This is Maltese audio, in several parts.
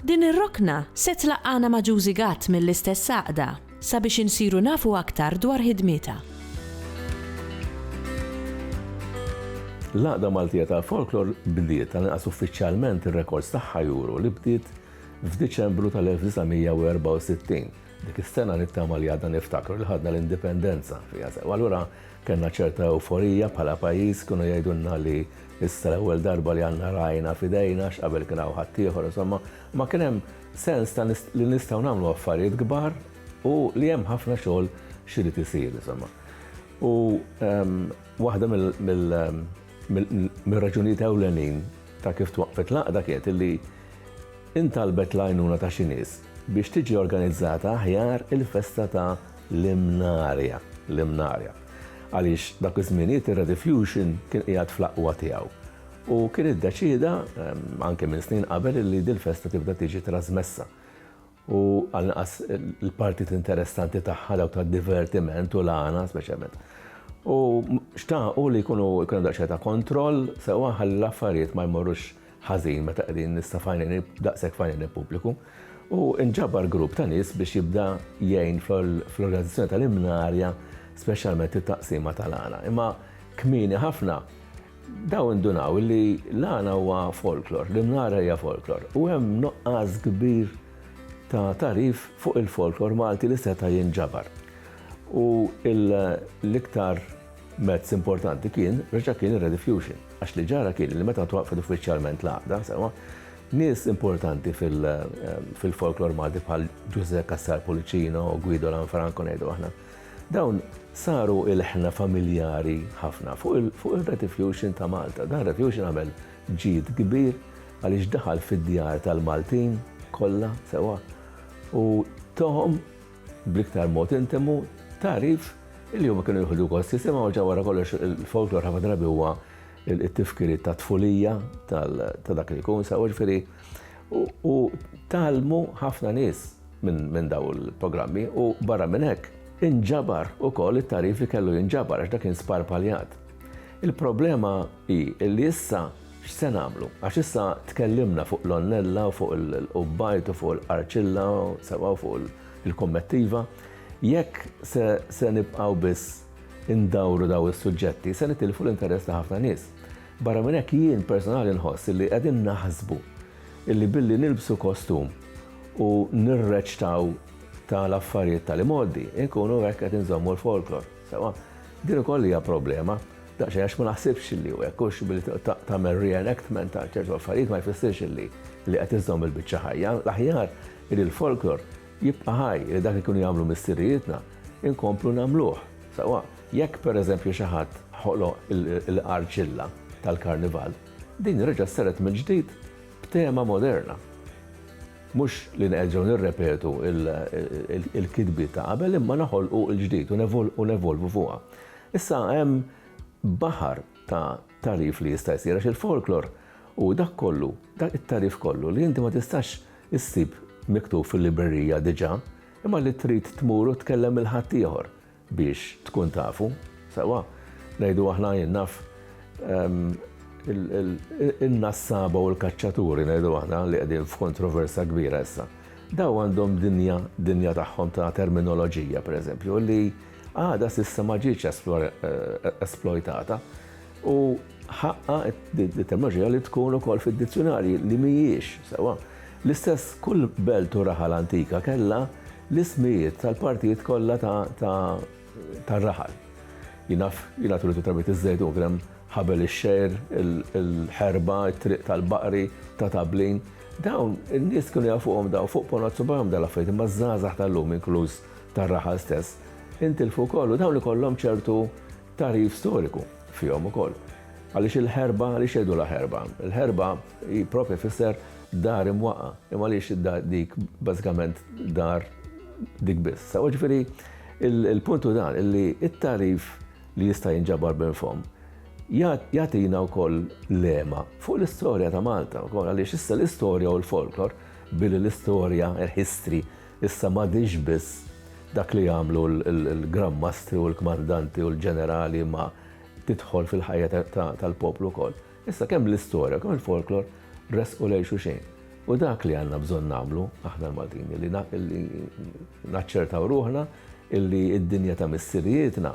Din ir-rokna se tlaqqagħna ma' Juzi Gatt mill-istess għaqda sabiex insiru nafu aktar dwar ħidmietha. L-Għaqda Maltija tal-Folklor bdiet, tal-inqas uffiċjalment ir-rekords tagħha juru li bdiet f'Diċembru tal-1964. Dik is-sena nittama li għadna niftakru li ħadna l-Indipendenza fiha sew. Allura kellna ċerta ewforija bħala pajjiż kienu jgħidulna li Issa l-ewwel darba li għandna ragħajna f'idejna għax qabel kien hawn ħaddieħor insomma, imma kien hemm sens ta' li nistgħu nagħmlu affarijiet kbar u li hemm ħafna xogħol x'irid isir insomma. U ehm, waħda mill-raġunijiet ewlenin ta' kif twaqqfet laqda kienet illi intalbet l-għajnuna ta' xi nies biex tiġi organizzata aħjar il-festa ta' l-imnarja, l-imnarja. għaliex dak iż-żminijiet ir-Rediffusion kien qiegħed fl-aqwa tiegħu u kien iddeċieda, anke minn snin qabel, illi dil-festa tibda tiġi trażmessa u għall-inqas il-partit interessanti tagħha dawk tad-divertiment u l-għana speċjalment. U xtaqu li jkunu jkun hemm daqsxejn ta' kontroll sewwa ħalli l-affarijiet ma jmorrux ħażin meta qegħdin nista' f'għajnejn daqshekk f'għajnejn il-pubbliku, u nġabar grupp ta' nies biex jibda jgħin fl-organizzazzjoni tal-imnarja speċjalment it-taqsima tal-għana. Imma kmieni ħafna daw indunaw li l-għana huwa folklor, l-imnara hija folklor, u hemm nuqqas kbir ta' tarif fuq il-folklor Malti li seta' jinġabar. U l-iktar Mezz importanti kien, reġa' kien ir-rediffusion, għax li ġara kien li meta twaqqfet uffiċjalment l-għaqda, sewwa, nies importanti fil-folklor Malti bħal Ġużè Cassar Pullicino, Guido Lanfranco ngħidu aħna, dawn saru ilħna familjari ħafna fuq ir-rediffusion ta' Malta. Dan ir-rediffusion għamel ġid kbir għaliex daħal fid-djar tal-Maltin kollha sewwa u tohom bl-iktar mod intimu, tagħrif li huma kienu jieħdu gost jisimgħu ġa wara kollox il-folklor ħafna drabi huwa it-tifkiriet ta' tfulija ta' dak li jkun sew ġifieri u talmu ħafna nies minn daw il-programmi u barra minn hekk inġabar ukoll it-tagħrif li kellu jinġabar għax dak kien sparpaljat. Il-problema hi li issa X'se nagħmlu? Għax issa tkellimna fuq l-onnella u fuq il-qubbajt u fuq il-qarċilla sewwa u fuq il-kummettiva. Jekk se nibqgħu biss indawru dawn is-suġġetti, se nitilfu l-interess ta' ħafna nies. Barra minn hekk jien personali nħoss li qegħdin naħsbu li billi nilbsu kostum u nirreċtaw tal-affarijiet tal-imgħoddi, inkunu hekk qed inżommu l-folklor. Sewwa, din ukoll hija problema. Daqsxejn għax ma naħsibx li hu hekk, hux billi tagħmel re-enactment ta' ċertu affarijiet ma jfissirx li li qed iżżomm il-biċċa ħajja. L-aħjar li l-folklor jibqa' ħaj, li dak li kienu jagħmlu missirijietna inkomplu nagħmluh. Sewwa jekk pereżempju xi ħadd ħoloq il-qarċilla tal-karnival, din reġgħet ssaret mill-ġdid b'tema moderna. Mhux li nerġgħu nirrepetu l-kitbiet ta' qabel imma noħolqu l-ġdid u nevolvu fuqha. Issa hemm baħar ta' tagħrif li jista' jsir għax il-folklor hu dak kollu, dak it-tagħrif kollu li inti ma tistax issib miktub fil-librerija diġà imma li trid tmur u tkellem lil ħaddieħor biex tkun tafu. Sewwa, ngħidu aħna jien naf in-nassaba u l-kaċċaturi ngħidu aħna li qegħdin f'kontroversa kbira issa. Daw għandhom dinja, dinja tagħhom ta' terminoloġija pereżempju li Għadha s'issa ma ġietx esplojtata u ħaqqa d-terminoloġija li tkun ukoll fid-dizzjunarji li mhijiex sewwa. L-istess kull belt u raħal antika kellha l-ismijiet tal-partijiet kollha tar-raħal. Jien naf, jien għad uritu tarbit iż-Żejtun kien hemm Ħabel ix-Xegħir, il-Ħerba, it-Triq tal-Baqri, ta' Tablin. Dawn in-nies kienu jafuhom dawn fuq ponot subajhom dawn l-affarijiet imma ż-żgħażagħ tal-lum inkluż tar-raħal stess intilfu wkoll u dawn ikollhom ċertu tagħrif storiku fihom ukoll. Għaliex il-ħerba, għaliex jgħidulha ħerba? Il-ħerba hi proprja tfisser dar imwaqqa, imma għaliex dik bażikament dar dik biss. Sa ġifieri il-punt hu dan li it-tarif li jista' jinġabar minn fom jagħtina wkoll lema fuq l-istorja ta' Malta wkoll għaliex issa l-istorja u l-folklor billi l-istorja, il-history, Issa m'għadhiex biss dak li jagħmlu l-Gran Mastri u l-Kmandanti u l-Ġenerali imma tidħol fil-ħajja tal-poplu wkoll. Issa kemm l-istorja, kemm il-folklor resqu lejn xulxejn. U dak li għandna bżonn nagħmlu aħna l-Maltin li naċċertaw ruħna illi id-dinja ta' missirijietna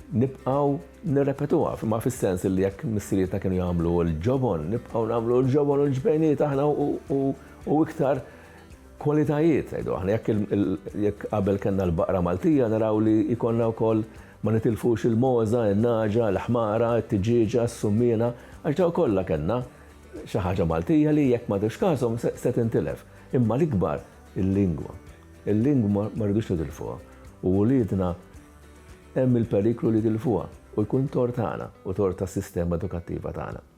nibqaw nirrepetuha, ma fis-sens li jekk missirietna kienu jagħmlu l-ġobon, nibqaw nagħmlu l-ġobon u l-ġbejniet aħna u iktar Kwalitajiet, ngħidu aħna. Jekk jekk qabel kellna l-baqra Maltija naraw li jkollna wkoll ma nitilfux il-mogħża, in-nagħġa, l-ħmara, it-tiġieġa, s-summiena, għax dawn kollha kellna xi ħaġa Maltija li jekk ma tieħux każhom se tintilef. Imma l-ikbar il-lingwa. Il-lingwa ma rridux nitilfuha u uliedna hemm il-periklu li jitilfuha u jkun tort tagħna u tort tas-sistema edukattiva tagħna.